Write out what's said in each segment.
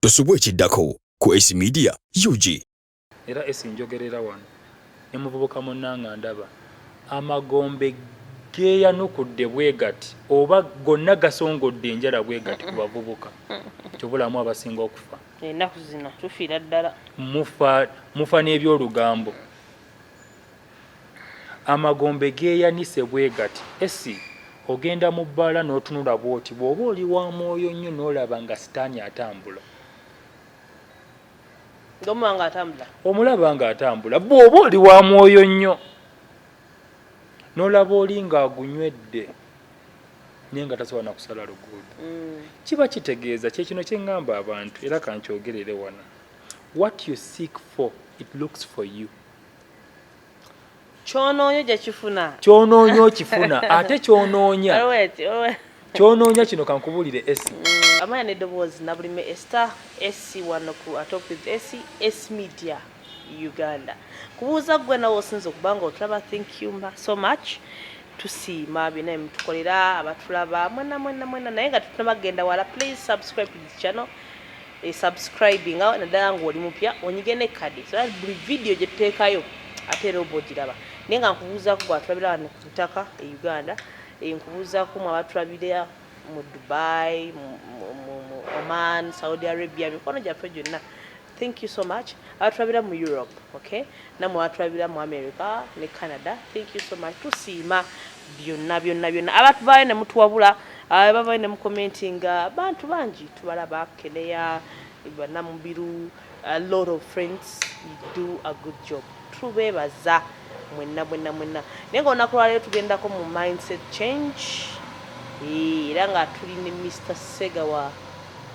tosubwa ekiddako ku Ace Media UG. Era Ace njogerera wano ne muvubuka munnanga ndaba amagombe geeyanukudde bwe gati oba gonna gasongodde enjala bwe gati ku bavubuka kyobulamu abasinga okufa enaku zino tufiira ddala mufa mufa n'ebyolugambo Amagombe geeyanise bwe gati. Esy ogenda mu bbaala n'otunula bw'oti bw'oba oli wa mwoyo nnyo n'olaba nga sitaani atambula. Ng'omuba ng'atambula? Omulaba ng'atambula. Bw'oba oli wa mwoyo nnyo n'olaba oli ng'agunywedde naye nga tasobola na kusala luguudo. Mm. Kiba kitegeeza kye kino kye ŋŋamba abantu era kankyogerere wano. What you seek for, it looks for you. kyonoonya ojja kifuna kyonoonya okifuna ate kyonoonya kyonoonya kino kankubulire esi mm, amanya neddoboozi nabulime esta esi wano ku atop with esi esi media uganda kubuuza gwe nawe osinza okuba nga otulaba thank you so much tusiima byona emutukolera abatulaba mwena mwena mwena naye nga tutunabagenda wala please subscribe to this channel e subscribe nga naddala ng'oli mupya onyige ne kadi so buli vidiyo gye tuteekayo ate era oba ogiraba naye nga nkubuuzaako gwatulabira wano ku ttaka e uganda eh, nkubuuzaako mu abatulabira mu dubai mu oman saudi arabia mikono gyaffe gyonna thank you so much abatulabira mu europe okay namwe watulabira mu America ne Canada thank you so much tusiima byonna byonna byonna abantu baayo ne mutuwabula abavayo ne mukomentinga abantu bangi tubalaba keneya banamubiru a lot of friends you do a good job tubebaza mwenna mwenna mwenna naye nga olunaku lwaleero tugendako mu mindset change era nga tuli ne mr segawa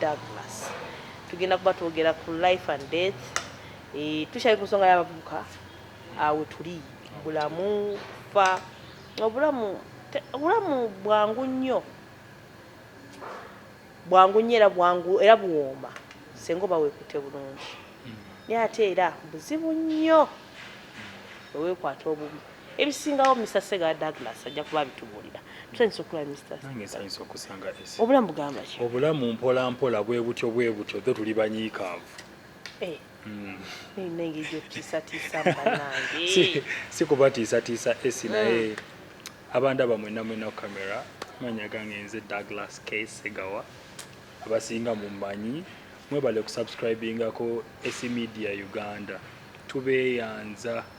douglas tugenda kuba twogera ku life and death Eh, tukyali ku nsonga y'abavubuka awo tuli bulamu fa obulamu obulamu bwangu nnyo bwangu nnyo era bwangu era buwooma senga oba weekutte bulungi hmm. naye ate era buzibu nnyo weweekwata obubi ebisingawo mr sega douglas ajja kuba abitubuulira tusanyusa okulaba mrsanyusa okusanga obulamu bugamba ki obulamu mpolampola bwe butyo bwe butyo dho tuli banyiikaavu Eh. Mm. si kubatiisatiisa esi naye mm. abantu abamwena mwena ku kamera manya gange nze douglas k segawa abasinga mumanyi mwebale kusubscribingako esi media uganda tubeyanza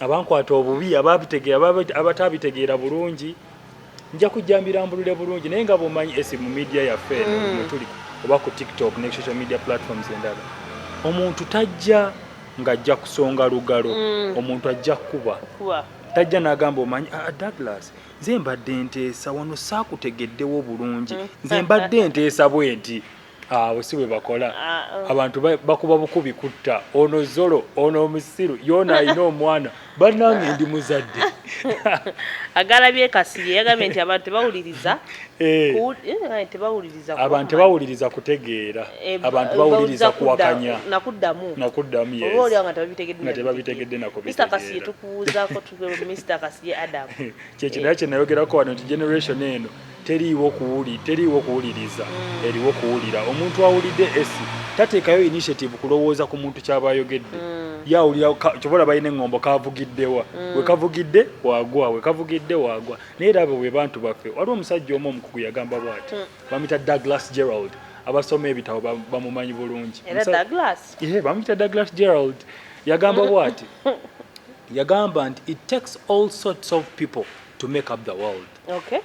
abankwata obubi abatabitegeera bulungi nja kujja mbirambulule bulungi naye nga bwomanyi esi mu media yaffe mm. mutuli oba ku tiktok ne social media platforms endala omuntu tajja ng'ajja kusonga lugalo mm. omuntu ajja kukuba tajja n'agamba omanyi ah, ah, douglas nze mbadde nteesa wano saakutegeddewo bulungi nze mbadde nteesa bwenti awo ah, si bwe bakola ah, oh. abantu bakuba bukubi kutta ono zolo ono omusiru yoona alina omwana banange ndi muzadde agalabye kasirye yagambye nti abantu tebawuliriza eh. Eh, tebawuliriza abantu tebawuliriza kutegeera eh, abantu bawuliriza kuwakanya nakuddamu nakuddamu nga tebabitegedde nakobkasirye tukuwuuzako mr kasirye adam kyekinayo kyenayogerako wano nti generation eno teriiwo kuwuli teriiwo kuwuliriza mm. eriwo kuwulira omuntu awulidde esi tateekayo initiative kulowooza ku muntu kyaba ayogedde mm. yawulira kyobola balina eŋŋombo kavugiddewa mm. wekavugidde wagwa wekavugidde wagwa naye era abo be bantu baffe waliwo omusajja omu omukugu yagamba bwati mm. bamita douglas gerald abasoma ebitabo bamumanyi bulungi bamuyita douglas gerald yagamba bwati yagamba nti it takes all sorts of people to make up the world okay.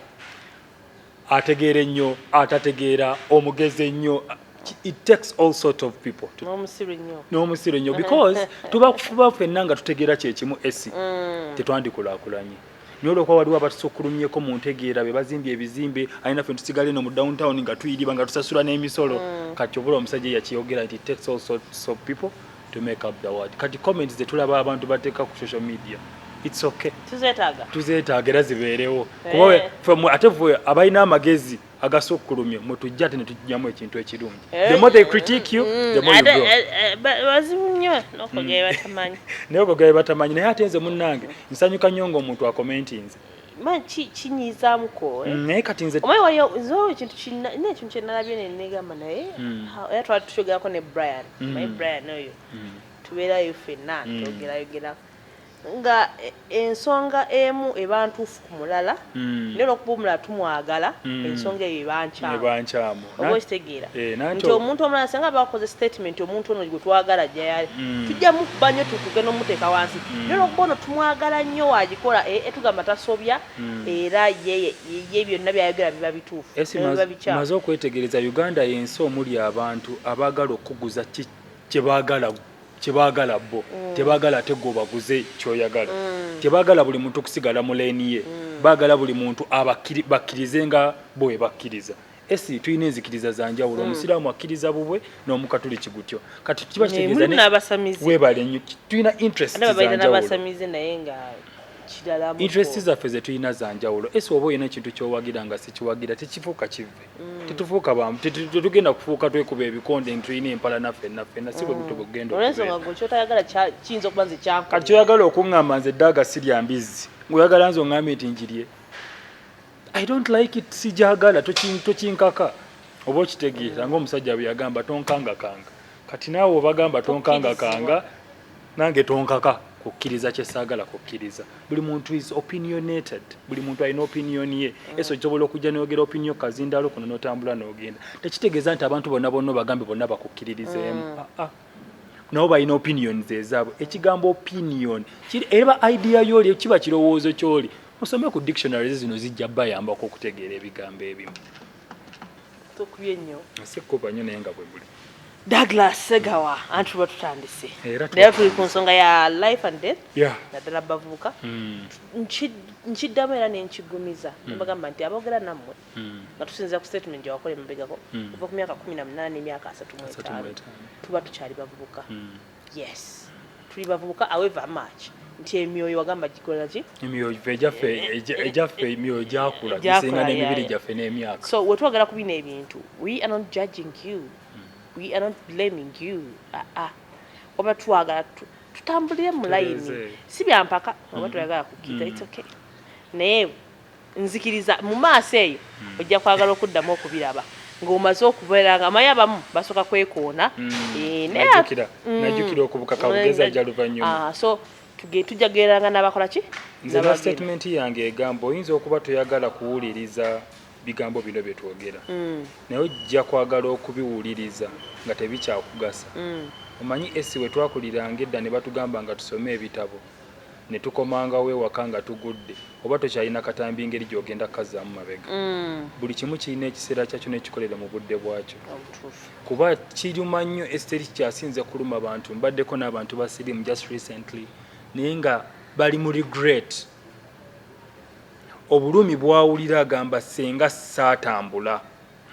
ategeera ennyo atategeera omugezi ennyo it takes all sort of people n'omusiru nnyo because tuba kufuba fenna nga tutegeera kyekimu esi mm. tetwandikulakulanye naye olwokuba waliwo abatusukkulumyeko mu ntegeera be bazimbye ebizimbe alina fe tusigale no mu downtown nga tuyiriba nga tusasula n'emisolo mm. kati obula omusajja yakiyogera nti takes all sorts of people to make up the word kati comments zetulaba abantu bateeka ku social media it's okay tuzetaaga tuzetaaga era zibeerewo eh. kuba from ate ffe abalina amagezi agasukkulumye mutujja ate netujjamu ekintu ekirungi eh. the more they critique you the more you grow eh, bazibu nnyo n'okugera batamanyi naye okugera batamanyi naye ate nze munnange nsanyuka nnyo ng'omuntu akomentinze man ki kinyizamu ko eh? mm, naye kati nze omaye wali zo ekintu kinna ne ekintu kye nalabye ne negamba naye mm. era twali tukyogera ne Brian mm. my Brian oyo mm. tubeera yo fenna mm. togera yogera nga e, ensonga emu ebantuufu ku mulala mm. naye olwokuba omulala tumwagala mm. ensonga eyo ebankyamu oba okitegeera eh, nti omuntu omulala singa bakoze statement omuntu ono gwe twagala jayali mm. tujja mukuba nnyo tukuge n'omuteeka wansi mm. naye olwokuba ono tumwagala nnyo wagikola eh, eh, tugamba tasobya mm. era ye byonna byayogera biba bituufu maze okwetegereza uganda yensi omuli abantu abaagala okukuguza kyebagala kyebagala bo tebagala ate gwobaguze kyoyagala tebagala buli muntu okusigala mu leeni ye bagala buli muntu bakkirize nga bwebakkiriza esi tulina enzikiriza za njawulo hmm. omusiraamu akkiriza bubwe n'omukatuliki gutyo kati kiba kitegeezawebale nnyo tulina interest interest zaffe zetulina za njawulo esi oba olina ekintu kyowagira nga sikiwagira tekifuuka kive hmm. tetufuuka bamu tetugenda kufuuka twekuba ebikonde ntulina empala naffe naffena si bwebutubugendakyoyagala okuŋŋamba nze ddaaga sirya mbizzi ngaoyagala nze oŋŋambye nti njirye I don't like it sijagala tokinkaka oba okitegeera mm. ngaomusajja bwe yagamba tonkangakanga kati naawe obagamba tonkangakanga nange tonkaka kukkiriza kyesaagala kukkiriza buli muntu is opinionated buli muntu alina opinion ye mm. eso kyobola okujja noyogera opinion kazindalo kuno notambula nogenda tekitegeeza nti abantu bonna bonna obagambe bonna bakukkiririzeemu mm. ah, ah. nabo balina opinion zezaabwe ekigambo opinion kiri eba idea yoli kiba kirowoozo kyoli musome ku dictionary zino zijja bayambako okutegeera ebigambo ebimu tukubye nnyo sikuba nnyo naye nga bwe buli Douglas Segawa anti tuba tutandise naye tuli ku nsonga ya life and death naddala bavubuka hmm. nkiddamu era nenkigumiza hmm. bagamba nti abogera nammwe mm. nga tusinzira ku statement gyewakola emabegako mm. kuva ku myaka kumi na munaana emyaka asatu mu etaano tuba tukyali bavubuka mm. yes tuli bavubuka aweva march nti emyoyo wagamba gikola ki emyoyo gyaffe egyaffe emyoyo gyakula gisinga n'emibiri gyaffe n'emyaka so wetwagala kubina ebintu we are not judging you mm. we are not blaming you aa ah, ah. oba twagala tutambulire mu layini si byampaka oba mm. twagala kukita mm. it's okay naye Nzikiriza mu maaso eyo ojja kwagala okuddamu okubiraba ng'omaze okubeera nga omanyi abamu basooka kwekoona najukira okubuka kawugezi ajja luvannyuma so tujja kugereranga n'abakola ki nze na sitatimenti yange egamba oyinza okuba toyagala kuwuliriza bigambo bino bye twogera mm. naye ojja kwagala okubiwuliriza nga tebikyakugasa mm. omanyi esi we twakuliranga edda ne batugamba nga tusome ebitabo ne tukomangawo ewaka nga tugudde oba tokyalina katambi ngeri gy'ogenda kukazzaamu mabega mm. buli kimu kirina ekiseera kyakyo nekikolere mu budde bwakyo kuba kiruma nnyo esiteri kyasinze kuluma bantu mbaddeko n'abantu ba sirimu just recently naye nga bali mu regret obulumi bwawulira agamba senga saatambula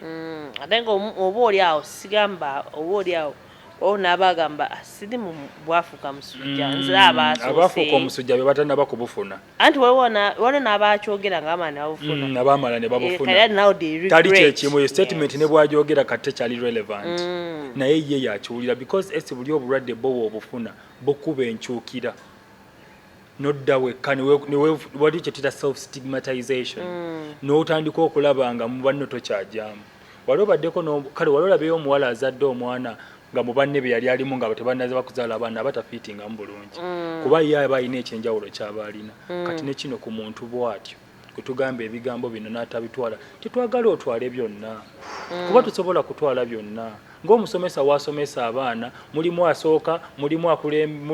mm, ate nga oba oli awo sigamba oba oli awo owo naaba agamba ah, siri mu bwafuuka musujja mm, nze abaafuuka omusujja be batanaba kubufuna anti waliwo n'abakyogera nga bamala nebabufuna mm, abamala ne babufunatali eh, kyekimu eyo statement ne bwagyogera kati tekyali relevant mm. naye ye yakiwulira because esi buli obulwadde bowa obufuna bukuba enkyukira nodda wekka wali kyetira self stigmatization mm. notandika okulaba nga mubanno tokyajaamu wali obaddeko kale wali olabeyo omuwala azadde omwana nga mubanne be yali alimu nga tebanaza bakuzaala abaana abatafiitingamu bulungi mm. kuba ye aba alina ekyenjawulo kyaba alina mm. kati nekino ku muntu bwatyo kutugamba ebigambo bino n'atabitwala tetwagala otwale byonna mm. kuba tusobola kutwala byonna ng'omusomesa waasomesa abaana mulimu asooka mulimu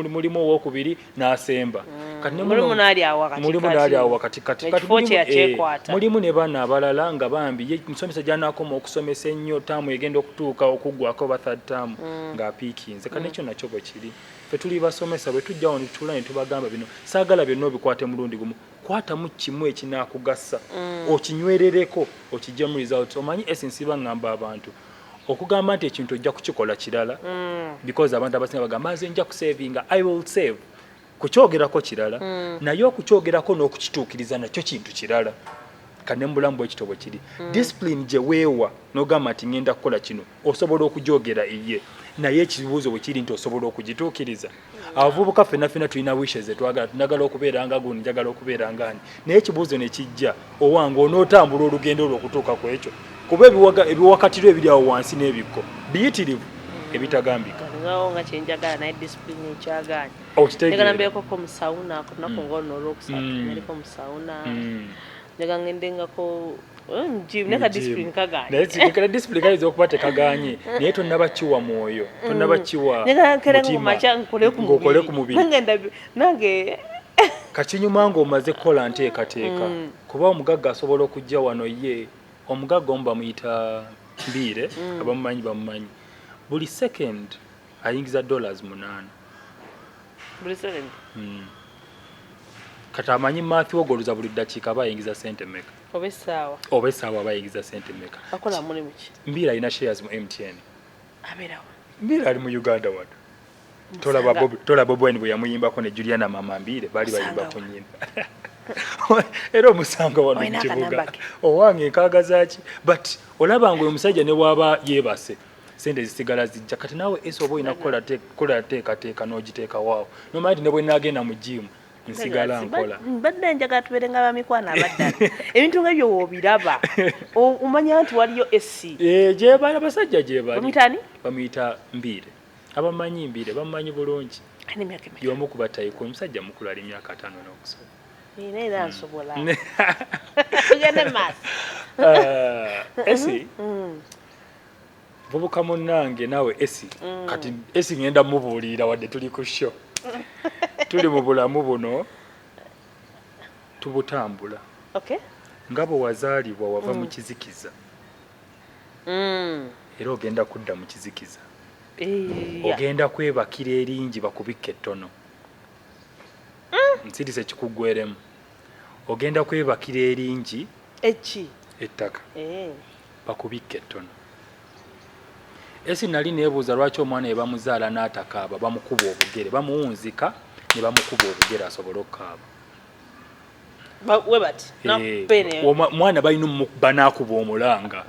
mulimu owokubiri n'asemba mm. mulimu n'ali awo wakatikkati eh, mulimu ne baana abalala nga bambi ye musomesa gy'anaakoma okusomesa ennyo taamu egenda okutuuka okuggwako ba third taamu mm. ng'apiikinze kati nekyo nakyo bwe kiri fetuli basomesa bwe tujjawo ne tutula ne tubagamba bino saagala byonna obikwate mulundi gumu kwatamu kimu ekinaakugasa mm. okinywerereko okijjamu result omanyi esinsiba ngamba abantu okugamba nti ekintu ojja kukikola kirala mm. because abantu abasinga bagamba nze nja kusavinga i will save kukyogerako kirala mm. naye okukyogerako n'okukituukiriza nakyo kintu kirala kane mubulamu bwekito bwe kiri mm. discipline gye weewa n'ogamba nti ngenda kukola kino osobola okugyogera eye naye ekibuuzo bwe kiri nti osobola okugituukiriza mm. abavubuka fena fena tulina wishe zetwagala tunagala okubeera nga gundi njagala okubeera nga ani naye ekibuuzo ne kijja owange onootambula olugendo olwo okutuuka ku ekyo kuba ebiwakatiro ebiri awo wansi n'ebikko biyitirivu ebitagambika okitegeera njaga ngendengako eh, mujimu naye kadisipulini kaganye naye disipulini kayinza okuba tekaganye naye tonaba kiwa mwoyo tonaba mm. kiwa mutimangokole ku mubiri nange kakinyuma ng'omaze kukola nteekateeka mm. kuba omugagga asobola okujja wano ye omugagga omu bamuyita mbiire mm. abamumanyi bamumanyi buli second ayingiza dollars munaana buli seven mm. kati amanyi mathi wogoloza buli ddakiika aba ayingiza sente meka oba essaawa oba essaawa aba ayingiza sente meka akola mulimu ki mbiira alina shares mu mtn abeerawo mbiira ali mu uganda wano tola bobi wine bwe yamuyimbako ne juliana mama mbiire baali bayimba ku nyimba era omusanga wano mu kibuga owange nkaagazaki but olaba nga oyo musajja ne waaba yeebase sente zisigala zijja kati naawe esa oba olina kukola teekateeka n'ogiteekawaawo nomanya nti ne bwe naagenda mu jiimu nsigala nkola mbadde njagala tubeere nga bamikwano abaddala ebintu nga ebyo woobiraba omanya nti waliyo esi eh, gyebali abasajja gyebali bamuyitani bamuyita mbiire abamanyi mbiire bamumanyi bulungi yomu ku batayiko omusajja mukulu ali myaka ataano n'okusoma era era hmm. nsobola tugende maaso eh, esi hmm. Muvubuka munnange naawe Esi mm. kati Esi ngenda mubuulirira wadde tuli ku sho tuli mu bulamu buno tubutambula okay. nga bwe wazaalibwa wava mm. mu kizikiza mm. era ogenda kudda mu kizikiza eh, ogenda kwebakira eringi bakubikka ettono mm. nsirisa ekikuggweremu ogenda kwebakira eringi ettaka eh. bakubikka ettono. Esi nali nebuuza lwaki omwana yebamuzaala n'atakaaba bamukuba obugere bamuwunzika ne bamukuba obugere asobole okukaaba eh, omwana balina omukuba n'akuba omulanga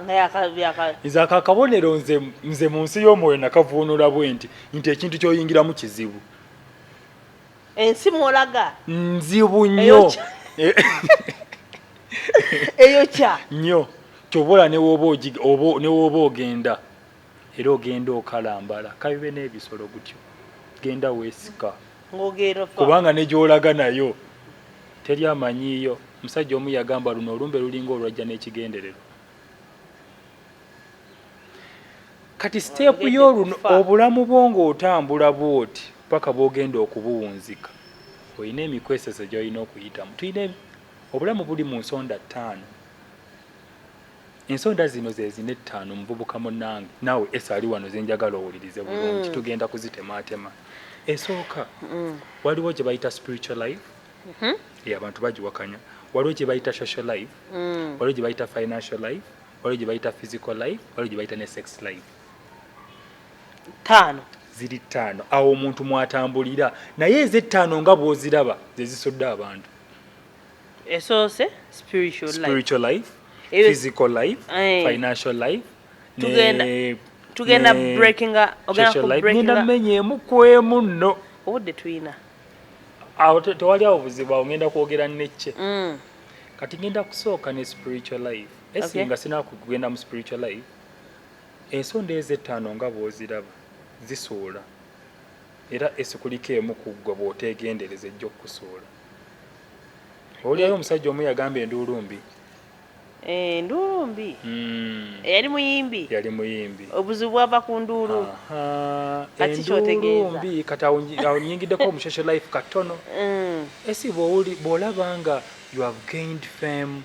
nze ako akabonero nze mu nsi y'omwoyo nakavuunula bwe nti nti ekintu kyoyingiramu kizibu ensi mwolaga nzibu nnyo eyo kya nnyo kyobola newooba ogenda era ogenda okalambala kabibe n'ebisolo gutyo genda weesika kubanga ne gy'olaga nayo teri amanyiiyo omusajja omu yagamba luno olumbe lulinga olwajja n'ekigendererwa kati siteepu y'oluno obulamu bwo ng'otambula bwoti paka bwogenda okubuwunzika olina emikweseso gyolina okuyitamu tulina obulamu buli mu nsonda ttaano ensonda zino zezina ettaano omuvubuka munange naawe esa ali wano zenjagala owulirize bulungi mm. tugenda kuzitemaatema esooka mm. waliwo gye bayita spiritual life mm-hmm. abantu bagiwakanya waliwo gye bayita social life mm. waliwo gye bayita financial life waliwo gye bayita physical life waliwo gye bayita ne sex life ttaano ziri ttaano awo omuntu mwatambulira naye ezettaano nga bwoziraba zezisodde abantu esoose spiritual life, spiritual life Ewe, physical life aye. financial life tugenda ne, tugenda ne, breaking social life ngenda menyeemu kwemu nno obudde tulina awo tewali awo buzibu awo ngenda kwogera necce mm. kati ngenda kusooka ne spiritual life esi nga sina kugenda mu spiritual life ensonda ezo ettaano nga bw'oziraba zisuula era esi kuliko emu ku ggwe bw'oteegendereza ejja okukusuula owulirayo omusajja omu yagamba enduulu mbi eh, enduulu mbi hmm. yali muyimbi yali muyimbi obuzibu bwava ku nduulu enduulu mbi kati awonyingiddeko omushosho life katono hmm. esi bw'olaba nga you have gained fame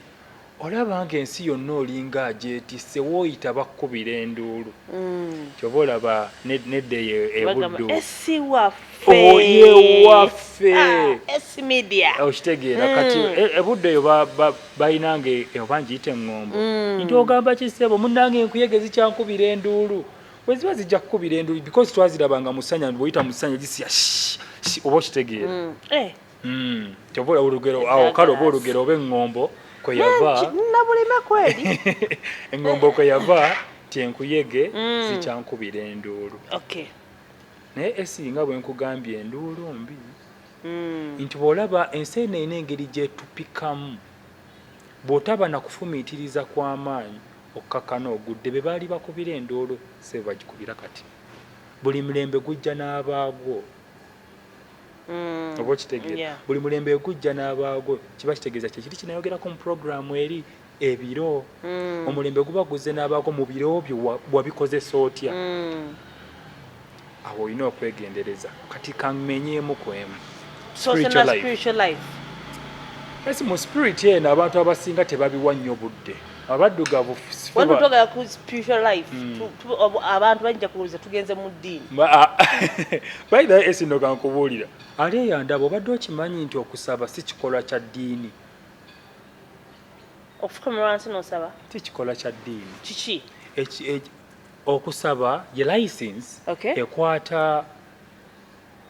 olaba nga ensi yonna olinga agyetisse wooyita bakkubira enduulu mm. kyoba olaba nedda eyo ebuddu yewaffe ah, okitegeera mm. kati e, ebuddu eyo balinanga oba ngiyita eŋŋombo mm. nti ogamba kisebo munange enkuyege zikyankubira enduulu weziba zijja kukubira enduulu because twazirabanga musanya bwoyita musanya gisiya oba okitegeera eh. mm kyoba olaba olugero awo kale oba olugero oba eŋŋombo kwe yava nabulina kweri eŋŋombo kwe yava tyenkuyege mm. zikyankubira enduulu naye esinga bwe nkugambye enduulu mbi mm. nti bw'olaba ensi eno ena engeri gyetupikamu bw'otaba na kufumiitiriza kw'amaanyi okukakana ogudde be baali bakubira enduulu se bagikubira kati buli mirembe gujja n'abaagwo Mm. oba okitegeera buli mulembe gujja n'abaagwo kiba kitegeeza kyekiri kinayogerako mu puroguramu eri ebiro mm. omulembe guba guzze n'abaagwo mu biro byo wabikozesa otya mm. awo olina okwegendereza kati kamenyeemu ku emu esi mu spirit eno abantu abasinga tebabiwa nnyo budde abaddugavu wano twagala ku spiritual life hmm. abantu bajja kuwuliza tugenze mu ddiini ah, by the way esino kankubuulira ali eyandaba obadde okimanyi nti okusaba si kikolwa kya ddiini okufukamira wansi nosaba si kikolwa kya ddiini kiki okusaba ye license ekwata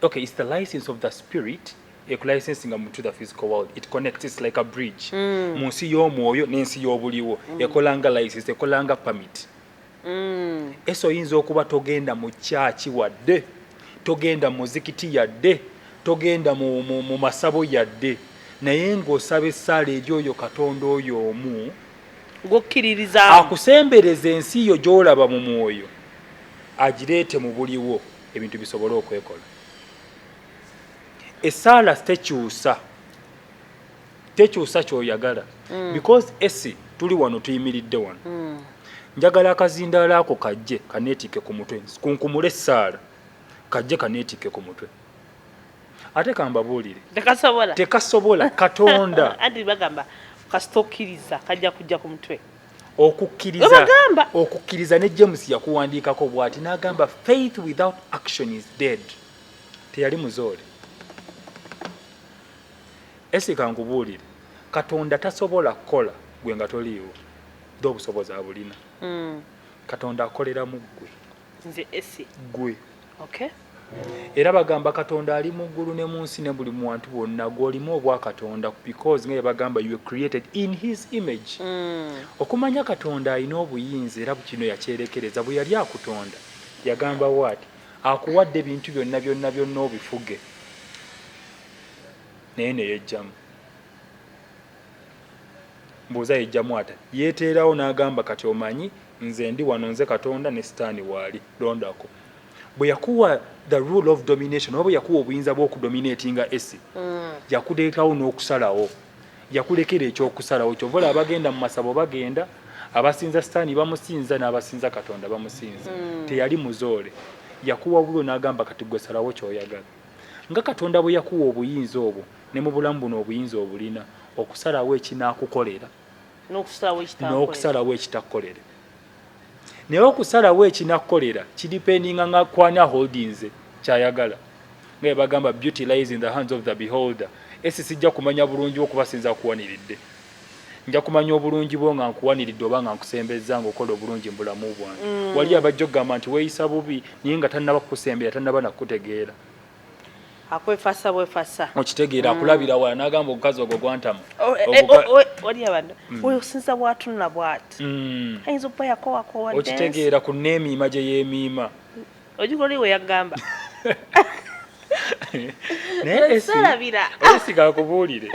okay it's the license of the spirit ekulicensinga mu to the physical world it connects it's like a bridge mm. mu nsi y'omwoyo n'ensi y'obuliwo mm. ekolanga license ekolanga permit mm. eso oyinza okuba togenda mu kyaki wadde togenda mu muzikiti yadde togenda mu, mu, mu masabo yadde naye ng'osaba essaala eri oyo katonda oyo omu gwokkiririza akusembereza ensi yo gy'olaba mu mwoyo agireete mu buliwo ebintu bisobole okwekola esaala tekyusa tekyusa kyoyagala mm. because esi tuli wano tuyimiridde wano mm. njagala akazindaalo ako kajje kaneetikke ku mutwe kunkumule essaala kajje kaneetikke ku mutwe ate kambabuulire tekasobola katonda anti bagamba kasita okkiriza kajja kujja ku mutwe okukkiriza okukkiriza ne james yakuwandiikako bwati n'agamba faith without action is dead teyali muzoole esika nkubuulire katonda tasobola kukola gwe nga toliiwo dde obusobozi abulina mm. katonda akolera mu ggwe nze esi gwe okay era bagamba katonda ali mu ggulu ne mu nsi ne buli muwantu bwonna gw'olimu obwa katonda because nga yebagamba you created in his image mm. okumanya katonda alina obuyinza era kino yakyerekereza bwe yali akutonda yagamba waati akuwadde ebintu byonna byonna byonna obifuge naye neyejjamu Mbuuza yejjamu ata? Yeteerawo n'agamba, Kati omanyi, nze ndi wano, nze Katonda, ne Sitaani waali. Londako. Bwe yakuwa the rule of domination, oba bwe yakuwa obuyinza bw'okudominatinga esi, mm. yakuleetawo n'okusalawo. Yakulekera eky'okusalawo. Kyova olaba abagenda mu masabo bagenda, abasinza Sitaani bamusinza, n'abasinza Katonda bamusinza. Mm. Teyali muzoole. Yakuwa wuwe n'agamba, Kati gwe salawo ky'oyagala. Nga Katonda bwe yakuwa obuyinza obwo, Ne mu bulamu buno obuyinza obulina, okusalawo ekinaakukolera n'okusalawo ekitakukolere. Naye okusalawo ekinakukolera kidipendinga nga ku ani aholdinze kyayagala. Nga bwe bagamba beauty lies in the hands of the beholder. Esi sijja kumanya bulungi bwo kuba sinza kuwaniridde. Nja kumanya obulungi bwo nga nkuwaniridde oba nga nkusembezza nga okola obulungi mu bulamu bwange. Mm. Wali abajja okugamba nti weeyisa bubi naye nga tannaba kukusembera tannaba na kukutegeera. akwefasa bwefasa okitegeera akulabira wala nagamba ogukazi ogwo gwantama oh, eh, eh, oh, oh, eh, oli abantu mm. oyo sinza bwatunula bwati mm. ayinza okuba yakowakowa okitegeera ku neemiima gye yeemiima ojiko oli we yagamba nayesigala kubuulire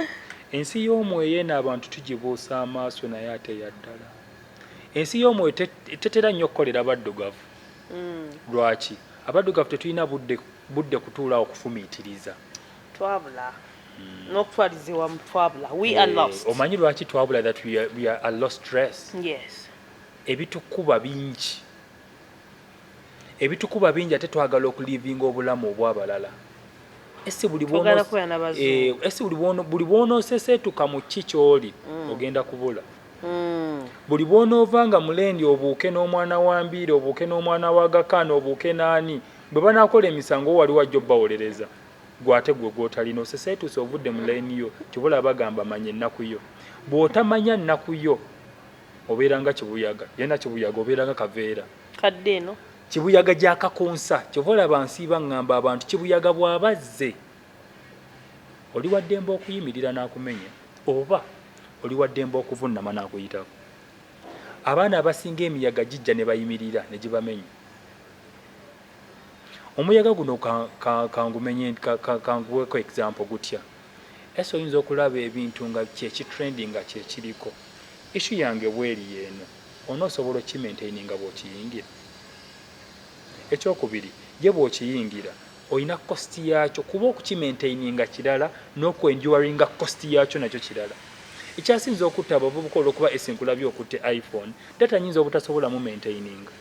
ensi y'omwoyo eno abantu tugibuusa amaaso naye ate yaddala ensi y'omwoyo tetera nnyo okukolera baddugavu mm. lwaki abaddugavu tetulina budde budde kutuula awo kufumiitiriza twabula mm. n'okutwaliza ewamu twabula we yeah. are lost omanyi lwaki twabula that we are, we are a lost stress yes ebitukuba bingi ebitukuba bingi ate twagala okulivinga obulamu obwabalala esi buli bwonoseseetuka eh, mu ki kyoli mm. ogenda kubula hmm. buli bwonoova nga mulendi obuuke n'omwana wa mbiiri obuuke n'omwana wa gakaana obuuke n'ani bwe banakola emisango wali wajja obbawolereza gwe ate gwe gwotalina oseseetuuse ovudde mu layini yo tibula bagamba manya ennaku yo bw'otamanya nnaku yo obeera nga kibuyaga yena kibuyaga obeera nga kaveera kadde eno kibuyaga gyakakonsa kyova olaba nsiiba ngamba abantu kibuyaga bwabazze Oli wa ddembe okuyimirira n'akumenya oba oli wa ddembe okuvunnama n'akuyitako. Abaana abasinga emiyaga gijja ne bayimirira ne gibamenya. Omuyaga guno kanguweeko egizampo gutya. Ese oyinza okulaba ebintu nga kyekitrend nga kyekiriko. Ishu yange bweri yeeno, onoosobola okimaintaininga bw'okiyingira? Ekyokubiri, ye bw'okiyingira, olina cost yaakyo kuba okukimaintaininga kirala n'okuenduringa cost yaakyo nakyo kirala ekyasinza okutta abavubuka olwokuba esinkulabye okutte iphone data nyinza obutasobola mu maintaininga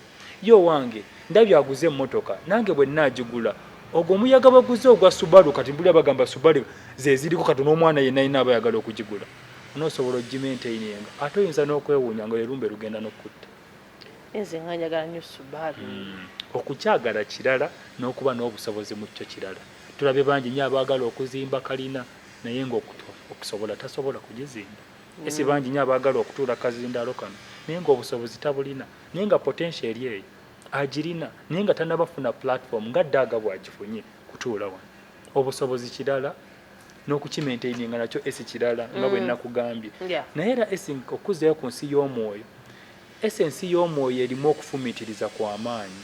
ye owange ndabye aguze emmotoka nange bwe naagigula ogwo omuyaga baguze ogwa subaru kati mbulira bagamba subaru zeziriko kati n'omwana yenna yina aba ayagala okugigula onoosobola ogimaintaininga ate oyinza n'okwewuunya nga lwe lumbe lugenda n'okukutta nze nga njagala nyo subaru mm. okukyagala kirala n'okuba n'obusobozi mu kyo kirala tulabye bangi nyo abaagala okuzimba kalina naye ngaokutwa okusobola tasobola kugizimba mm. esi bangi nyo abaagala okutuula kazindaalo kano naye ngaobusobozi tabulina naye nga potensio eri eyo agirina naye nga tanabafuna platform nga daaga bwagifunye kutuula wano obusobozi kirala n'okukima entaining nga nakyo esi kirala nga bwe mm. nakugambye naye era esing okuzzayo ku nsi y'omwoyo esi ensi y'omwoyo erimu okufumiitiriza kwa maanyi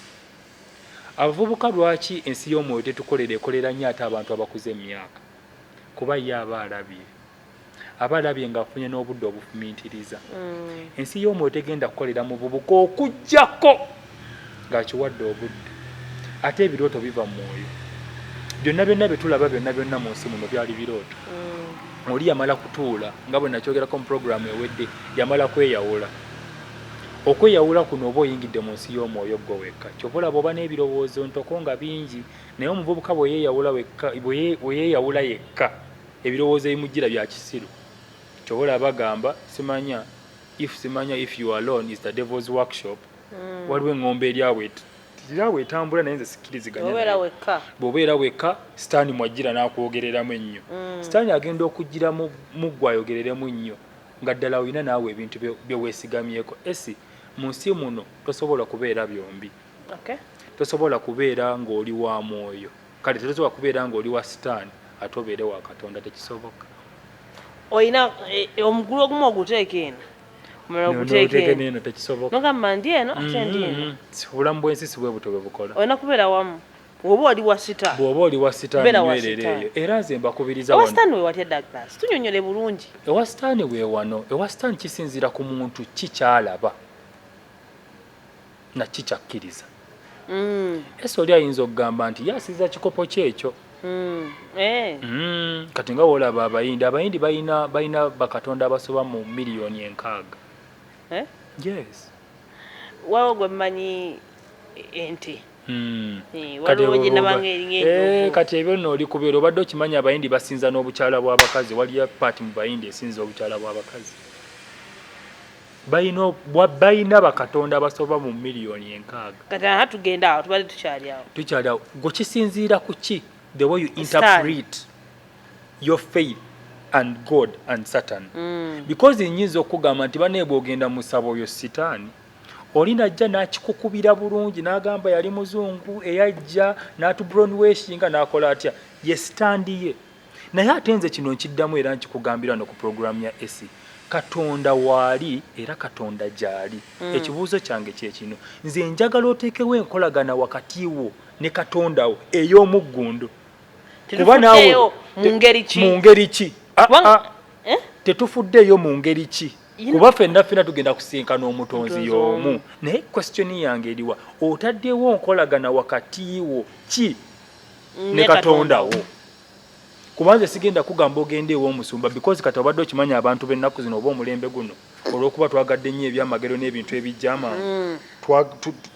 abavubuka lwaki ensi y'omwoyo tetukolera ekolera nnyo ate abantu abakuze emyaka kuba ye aba alabye aba alabye ng'afunye n'obudde obufumiitiriza mm. ensi y'omwoyo tegenda kukolera mu bubuka okujjako ng'akiwadde obudde ate ebirooto biva mu mwoyo byonna byonna bye tulaba byonna byonna mu nsi muno byali birooto mm. oli yamala kutuula nga bwe nakyogerako mu puroguramu ewedde yamala kweyawula okweyawula kuno oba oyingidde mu nsi y'omwoyo gwo wekka kyova olaba oba n'ebirowoozo ntoko nga bingi naye omuvubuka bwe yeeyawula yekka Ebirowoozo ebimujjira bya kisiru. Kyova olaba bagamba simanya if simanya if you alone is the devil's workshop. Mm. Waliwo eng'ombe erya bweti gira bwetambula naye nze sikkiriziganya bw'obeera wekka sitaani mwajjira n'akwogereramu ennyo mm. sitaani agenda okujjira mu ggwe ayogereremu nnyo nga ddala olina naawe ebintu bye weesigamyeko esi mu nsi muno tosobola kubeera byombi tosobola kubeera ng'oli wa mwoyo kale tetusobola kubeera ng'oli wa sitaani ate obeere wa katonda tekisoboka olina e, e, omugulu ogumu oguteeka eno omulala oguteeka eno tekisoboka nogamba ndi eno ate ndi eno mm-hmm. obulamu bw'ensi si bwe butyo bwe bukola olina kubeera wamu oba oli wa sita bwoba oli wa sitaaniwerereeyo era nze mbakubiriza ewa sitaani wewatya douglas tunyonyole bulungi ewa sitaani wewano ewa sitaani kisinziira ku muntu ki kyalaba nakki kyakkiriza mm. ese oli ayinza okugamba nti yasiza kikopo kyekyo mm. eh. mm. kati nga wolaba abayindi abayindi balina balina bakatonda abasoba mu miliyoni enkaaga eh? yes wawo gwe mmanyi ente Hmm. Eh, eh, kati ebyo no oli kubeera obadde okimanyi abayindi basinza n'obukyala bw'abakazi waliyo paati mu bayindi esinza obukyala bw'abakazi balina bakatonda abasoba mu miliyoni enkaaga kati aha tugenda awo tubadde tukyali awo tukyali awo gwe kisinziira ku ki the way you interpret your faith and god and satan mm. because nyinza okugamba nti banaye bwogenda musaba oyo sitaani oli najja n'akikukubira bulungi n'agamba yali muzungu eyajja n'atubronweshinga n'akola atya ye sitandi ye naye ate nze kino nkiddamu era nkikugambira no ku pulogulaamu ya esi katonda waali era katonda gyali mm. ekibuuzo kyange kyekino nze njagala oteekewo enkolagana wakati wo ne katonda wo ey'omuggundu kuba naawe mu ngeri ki ah, ah. eh? tetufuddeeyo mu ngeri ki kuba fenna fena tugenda kusinkana omutonzi y'omu naye kwesitioni yange eriwa otaddewo nkolagana wakati wo ki ne katonda wo kubanze sigenda kugamba ogenda ew'omusumba because kati obadde okimanya abantu b'ennaku zino oba omulembe guno olw'okuba twagadde nnyo ebyamagero n'ebintu ebijja amaanyi mm.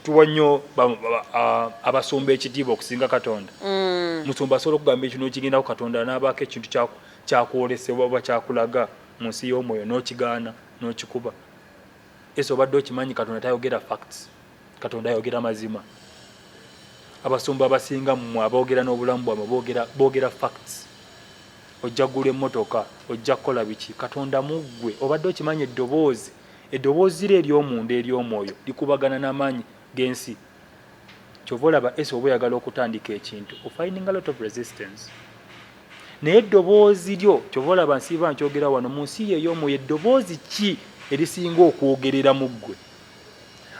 tuwa nnyo abasumba ekitiibwa okusinga katonda mm. musumba asobola okugamba ekintu nokigendako katonda n'abaako ekintu kyakwolesebwa oba kyakulaga mu nsi y'omwoyo n'okigaana n'okikuba ese obadde okimanyi katonda tayogera facts katonda ayogera mazima abasumba abasinga mmwe aboogera n'obulamu bwamwe boogera facts ojja kugula emmotoka ojja kukola biki katonda muggwe obadde okimanyi eddoboozi eddoboozi ro ery'omunda ery'omwoyo likubagana n'amaanyi g'ensi kyova olaba esi oba oyagala okutandika ekintu ofininga lot of resistance naye eddoboozi lyo kyova olaba nsiiba nkyogera wano mu nsi yeey'omwoyo eddoboozi ki erisinga okwogerera mu ggwe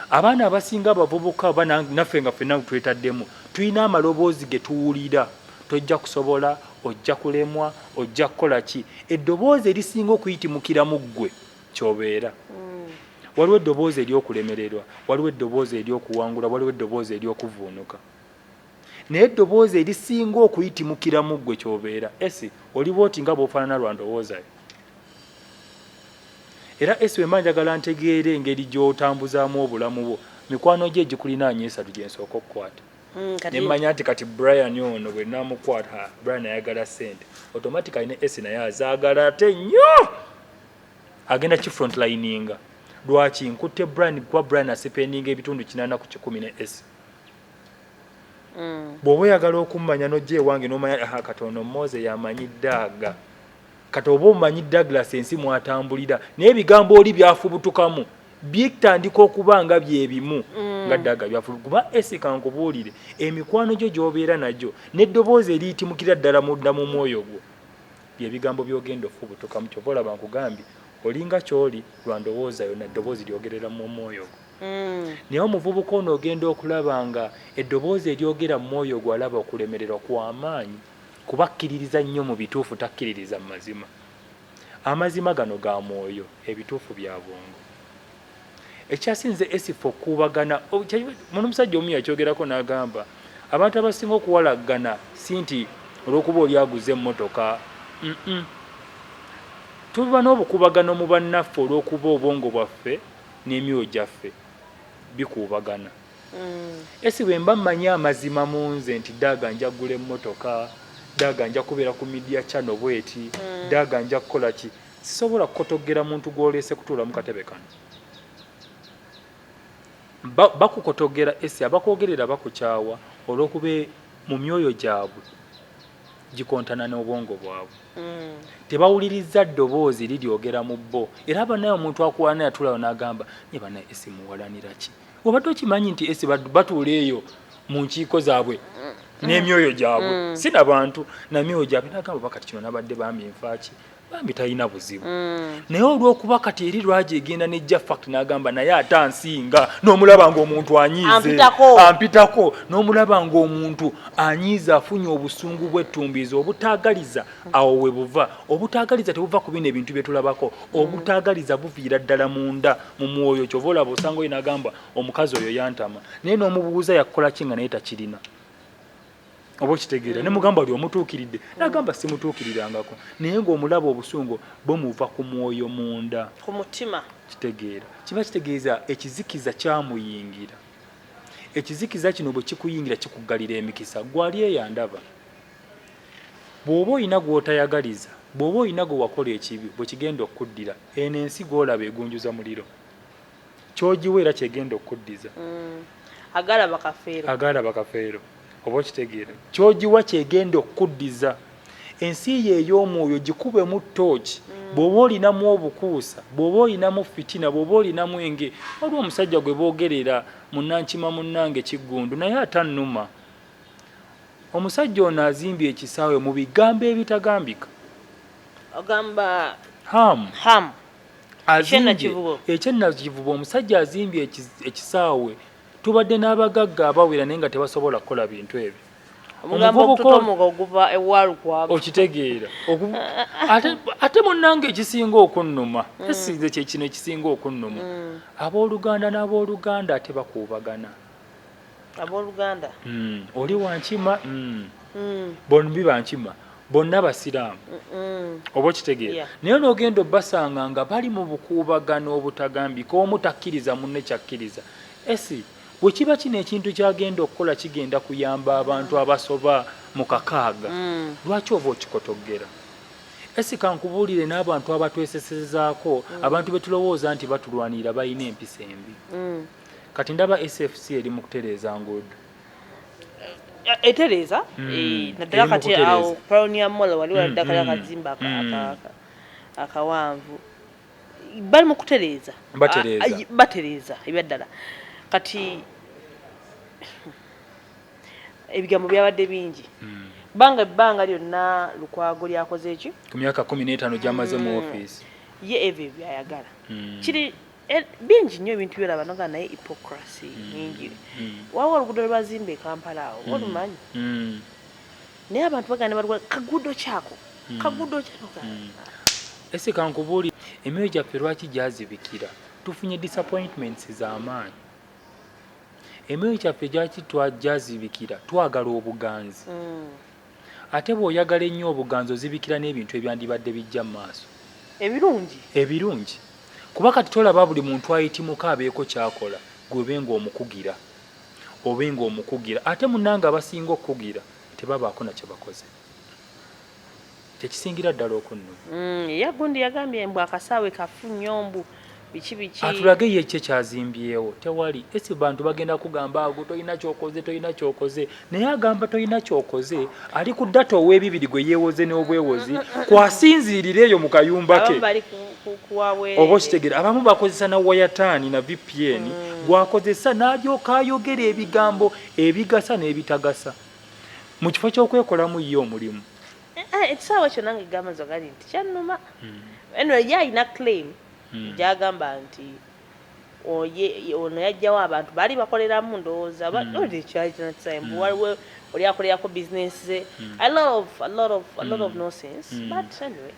abaana abasinga abavubuka oba naffe nga fenna twetaddemu tulina amaloboozi ge tuwulira tojja kusobola ojja kulemwa ojja kukola ki eddoboozi erisinga okuyitimukira mu ggwe kyobeera mm. waliwo eddoboozi ery'okulemererwa waliwo eddoboozi ery'okuwangula waliwo eddoboozi ery'okuvuunuka naye eddoboozi erisinga okuyitimukira mu ggwe kyobeera esi oliba oti nga bwofaanana lwa ndowoozayo era esi wemba njagala ntegeera engeri gy'otambuzaamu obulamu bwo mikwano gye egikulinaanya esatu gye nsooka okukwata mm, ne mmanya nti kati brian ono bwe namukwata brian ayagala ssente automatically ne esi naye azaagala ate nnyo agenda ki front lininga lwaki nkutte brian kuba brian asipendinga ebitundu kinaana ku kikumi ne esi Mm. bw'oba oyagala okummanya n'ojja ewange n'omanya aha kati ono Moze yamanyi Daaga kati oba omanyi Douglas ensi mwatambulira naye ebigambo oli byafubutukamu bitandika okuba nga bye bimu mm. nga Daaga byafubutuka kuba esika nkubuulire emikwano gyo gy'obeera nagyo n'eddoboozi eriyitimukira ddala munda mu mwoyo gwo bye bigambo by'ogenda okufubutukamu kyova olaba nkugambye olinga ky'oli lwa ndowooza yona eddoboozi lyogerera mu mwoyo gwo mm. naye omuvubuka ono ogenda okulaba nga eddoboozi eryogera mu mwoyo ogwo alaba okulemererwa kwamaanyi kuba akkiririza nnyo mu bituufu takkiririza mu mazima amazima gano ga mwoyo ebituufu bya bwongo ekyasinze esifa okuubagana muno omusajja omu yakyogerako n'agamba abantu abasinga okuwalaggana si nti olw'okuba oli aguze emmotoka tuba n'obukubagano mu bannaffe olw'okuba obwongo bwaffe n'emyoyo gyaffe bikuubagana. Esy bwe mba mmanyi amazima mu nze nti daaga nja kugula emmotoka, daaga nja kubeera ku midiya cano bweti, daaga nja kukola ki, sisobola kukotoggera muntu gw'oleese kutuula mu katebe kano. Ba, bakukotoggera Esy, abakwogerera bakukyawa olw'okuba mu myoyo gyabwe gikontana n'obwongo bwabwe mm. tebawulirizza ddoboozi liryogera mu bo era banaye omuntu akuwalana yatulawo n'agamba nye banaye esi muwalanira ki obadde okimanyi nti esi batuula eyo mu nkiiko zaabwe mm. n'emyoyo gyabwe mm. si na bantu namyoyo gyabwe nagamba bakati kino nabadde bambi nfaaki bambi talina buzibu mm. naye olwokuba kati eri lwaji egenda nejja fact nagamba naye ate ansinga nomulaba ngaomuntu anyiize ampitako nomulaba ngaomuntu anyiize afunye obusungu bwettumbiiza obutagaliza awo webuva obutagaliza tebuva ku bino ebintu byetulabako obutagaliza buviira ddala munda mu mwoyo kyova olaba osanga oyo nagamba omukazi oyo yantama naye nomubuuza yakukola ki nga naye takirina oba okitegeera ne mugamba oli omutuukiridde nagamba simutuukirirangako naye ng'omulaba obusungu bumuva ku mwoyo munda ku mutima kitegeera kiba kitegeeza ekizikiza kyamuyingira ekizikiza kino bwe kikuyingira kikuggalira emikisa gwali eyandaba bw'oba olina gw'otayagaliza bw'oba olina gwe wakola ekibi bwe kigenda okukuddira eno ensi gw'olaba egunjuza muliro kyogiwa era kyegenda okukuddiza mm. agaala bakafeero agaala bakafeero oba okitegeera kyogiwa kyegenda okukuddiza ensi ye ey'omwoyo gikubemu tooki mm. bw'oba olinamu obukuusa bw'oba olinamu fitina bw'oba olinamu enge waliwo omusajja gwe boogerera munankima munnange kiggundu naye atannuma omusajja ono azimbye ekisaawe mu bigambo ebitagambika ogamba hamu hamu ekyennakivubo omusajja azimbye ekisaawe tubadde n'abagagga abawera naye nga tebasobola kukola bintu ebyo okitegeera ate munange ekisinga okunnuma mm. esinze kyekino ekisinga okunnuma mm. abooluganda n'abooluganda ate bakuubagana abooluganda mm. oli wankima mm. mm. bonbi bankima bonna abasiraamu oba okitegeera naye n'ogenda obasanga nga bali mu bukuubagano obutagambika omu takkiriza munne kyakkiriza esi bwe kiba kino ekintu kyagenda okukola kigenda kuyamba abantu abasoba mu kakaaga mm. lwaki ova okikotoggera esi kankubuulire n'abantu abatwesesezaako mm. abantu betulowooza nti batulwanirira balina empisa embi mm. kati ndaba SFC eri mu kutereeza nguudo etereeza hmm. eh, naddala kati awo pionia mall wali hmm, waladdakala hmm, akazimba akawanvu bali mu kutereeza batereeza ebyaddala kati ebigambo byabadde bingi banga ebbanga lyonna lukwago lyakoze eki ku myaka kumi n'etaano gyamaze mu ofiisi ye ebyo byayagala kiri Eh, bingi nnyo ebintu byolaba noga naye hypocracy mm. nyingi mm. waliwo oluguudo lwebazimba ekampala awo mm. olumanyi naye abantu bagana balwa kaguudo kyako kaguudo kyanoga ese kankubuuli emyoyo gyaffe lwaki gyazibikira tufunye disappointments zamaanyi emyoyo gyaffe gyaki gyazibikira twagala obuganzi Ate bw'oyagala ennyo obuganzi ozibikira n'ebintu ebyandibadde bijja mu maaso. Ebirungi? Ebirungi. Kuba kati tolaba buli muntu ayitimuka abeeko ky'akola ggwe obe ng'omukugira. Obe ng'omukugira. Ate munnange abasinga okukugira tebabaako na kye bakoze. Kye kisingira ddala okunnuma. Yye gundi yagambye mbu akasaawe kafu nnyo mbu. biki biki atulage ye kye kyazimbyewo tewali esi bantu bagenda kugamba ago tolina kyokoze tolina kyokoze naye agamba tolina kyokoze ali ku data ow'ebibiri gwe yeewoze n'obwewozi kwasinziirira eyo mu kayumba ke oba okitegera abamu bakozesa na wayataani na vpn mm. gwakozesa n'alyoka ayogera ebigambo ebigasa n'ebitagasa mu kifo ky'okwekolamu ye omulimu ekisaawa eh, eh, ekyo nange gamba nze gali nti kyannuma hmm. anyway ye alina claim hmm. gyagamba nti ono yajjawo abantu baali bakoleramu ndowooza baekyakinatime hmm. waliwo oli akolerako business ze a lot of a lot of a lot of nonsense but anyway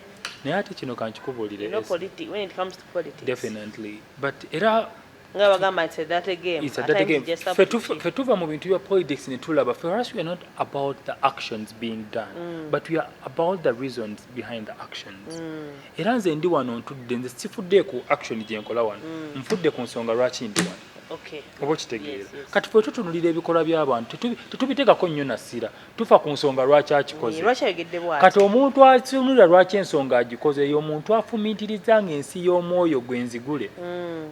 naye ate kino kankikubuulire no politics when it comes to politics definitely but era nga bagamba nti dirty game it's a dirty game fe tufa fe tuva mu bintu bya politics ne tulaba for us we are not about the actions being done mm. but we are about the reasons behind the actions mm. era nze ndi wano ntudde nze sifudde ku action gye nkola wano mm. nfudde ku nsonga lwaki ndi wano oba okitegeera kati fe tutunulira ebikolwa by'abantu tetubitegako nnyo nasira tufa ku nsonga lwaki akikoze kati omuntu asunulira lwaki ensonga agikoze eyo omuntu afumintiriza nga ensi y'omwoyo gwe nzigule mm.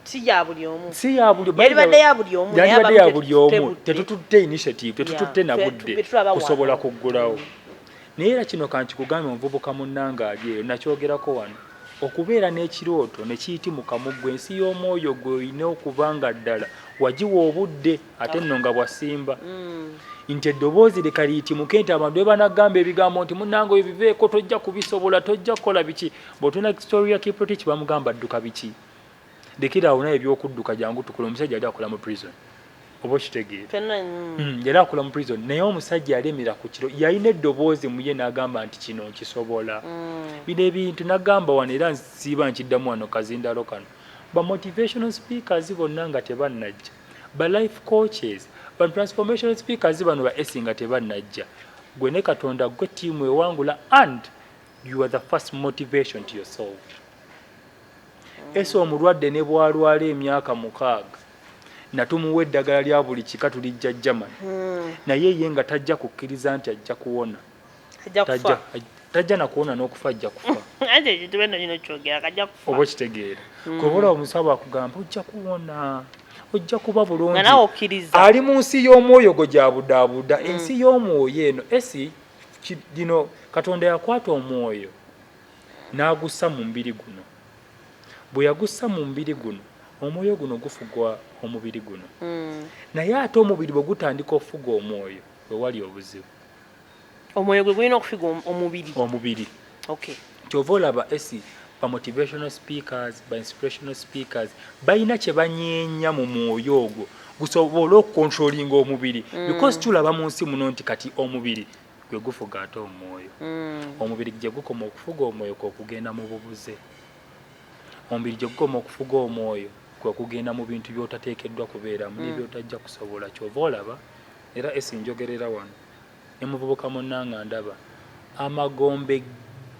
si ya buli omu si ya buli omu yalibadde ya buli omu yalibadde ya buli omu tetututte initiative tetututte na budde kusobola kuggulawo mm. naye era kino kankikugambe omuvubuka munnange ali eyo nakyogerako wano okubeera n'ekirooto ne kiyitimuka mu ggwe ensi y'omwoyo gwe olina okuba nga ddala wagiwa obudde ate nno nga bwasimba mm. nti eddoboozi leka liyitimuke nti abantu bebanagamba ebigambo nti munange oyo biveeko tojja kubisobola tojja kukola biki bwotuna storia kiprotich bamugamba adduka biki lekiraawo naye ebyokudduka jangu tukula omusajja ali akola mu prison oba okitegeera mm. mm, yali akola mu prison naye omusajja yalemera ku kiro yalina eddoboozi muye n'agamba nti kino nkisobola bino ebintu nagamba wano era nsiiba nkiddamu wano kazindalo kano ba motivational speakers bonna nga tebannajja Ba life coaches, ba transformation speakers bano ba esi nga tebanajja. Gwe ne Katonda gwe team ewangula and you are the first motivation to yourself. Ese omulwadde ne bwalwala emyaka mukaaga natumuwa eddagala lya buli kika tulijja German hmm. naye ye nga tajja kukkiriza nti ajja kuwona. ajja kufa tajja nakuwona n'okufa ajja kufa anti ekintu beno kino kyogera kajja kufa oba okitegeera mm. kwebula omusawo akugamba ojja kuwona ojja kuba bulungi ali mu nsi y'omwoyo gwe gyabudaabuda mm. ensi y'omwoyo eno esi gino katonda yakwata omwoyo n'agussa mu mubiri guno bwe yagussa mu mubiri guno omwoyo guno gufugwa omubiri guno mm. naye ate omubiri bwe gutandika okufuga omwoyo we wali obuzibu omwoyo gwe gulina okufiga omubiri omubiri okay kyova olaba esi ba motivational speakers ba inspirational speakers balina kye banyeenya mu mwoyo ogwo gusobole okukontrolinga omubiri mm. because tulaba mu nsi muno nti kati omubiri gwe gufuga ate omwoyo mm. omubiri gye gukoma okufuga omwoyo kwe kugenda mu bubuze omubiri gye gukoma okufuga omwoyo kwe kugenda mu bintu by'otateekeddwa kubeeramu mm. nebyotajja kusobola kyova olaba era esi njogerera wano ne muvubuka munnanga ndaba amagombe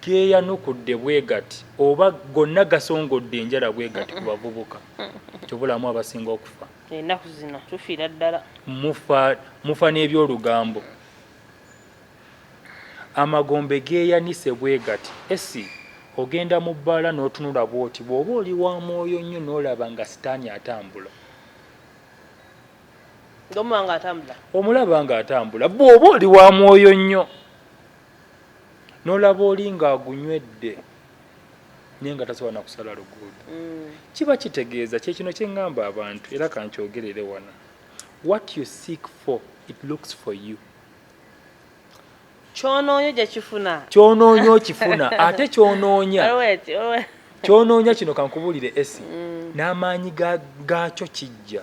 geeyanukudde bwe gati oba gonna gasongodde enjala bwe gati ku bavubuka kyobulamu abasinga okufa ennaku zino tufiira ddala mufa mufa n'ebyolugambo amagombe geeyanise bwe gati esi ogenda mu bbaala n'otunula bwoti bw'oba oli wa mwoyo nnyo n'olaba nga sitaani atambula omulaba ng'atambula bw'oba oli wa mwoyo nnyo n'olaba oli ng'agunywedde naye nga tasobola na kusala luguudo mm. kiba kitegeeza kyekino kye ŋŋamba abantu era kankyogerere wano what you seek for it looks for you kyonoonya ojja kifuna kyonoonya okifuna ate kyonoonya kyonoonya kino kankubulire esi mm. n'amaanyi gaakyo kijja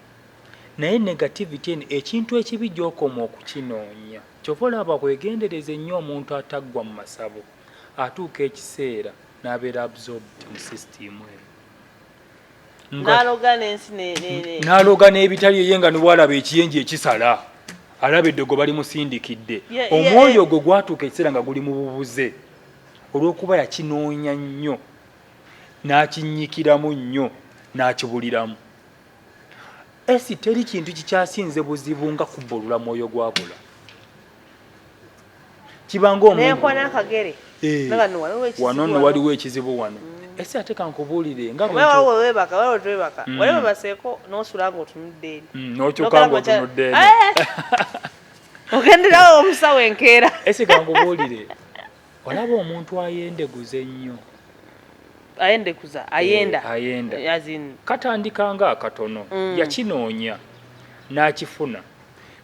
Naye negativity eno ekintu ekibi gyokoma okukinoonya kyova olaba bwegendereza ennyo omuntu ataggwa mu masabo atuuka ekiseera nabeera absorbed mu system eno nalooga n'ebitali eye nga niwalaba ekiyenje ekisala alaba eddogo balimusindikidde omwoyo ogwo gwatuuka ekiseera nga guli mu bubuze olw'okuba yakinoonya nnyo n'akinnyikiramu nnyo n'akibuliramu Esi teri kintu kikyasinze buzibu nga kubbulula mwoyo gwabula kibanga omuwano eh, no waliwo ekizibu wano mm. esi ate kankubuulire nga wewebaka wewetwebaka mm. waliwo baseeko nosula nga otunudde eri mm, nokyuka nga otunudde eri eh! ogenderawo omusawo enkeera esi kankubuulire olaba omuntu ayendeguza ennyo ayendekuza eh, ayenda ayenda katandika nga akatono mm. yakinoonya n'akifuna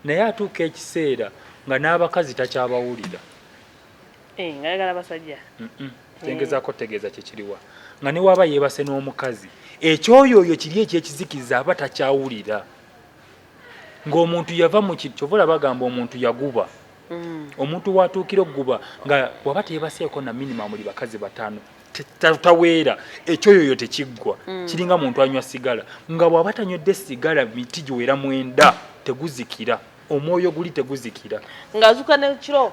naye atuuka ekiseera nga n'abakazi takyabawulira eh, nga yagala basajja tengezako eh. tegeeza kyekiriwa nga newaba yeebase n'omukazi ekyoyooyo kiri ekyekizikiza aba takyawulira ng'omuntu yava mu kiri kyova olaba gamba omuntu yaguba mm. omuntu watuukira okuguba nga waba teyebaseeko na minimamu li bakazi bataano taweera ekyoyoyo tekiggwa mm. kiringa muntu anywa sigala nga bwaba tanywedde sigala miti giwera mwenda teguzikira omwoyo guli teguzikira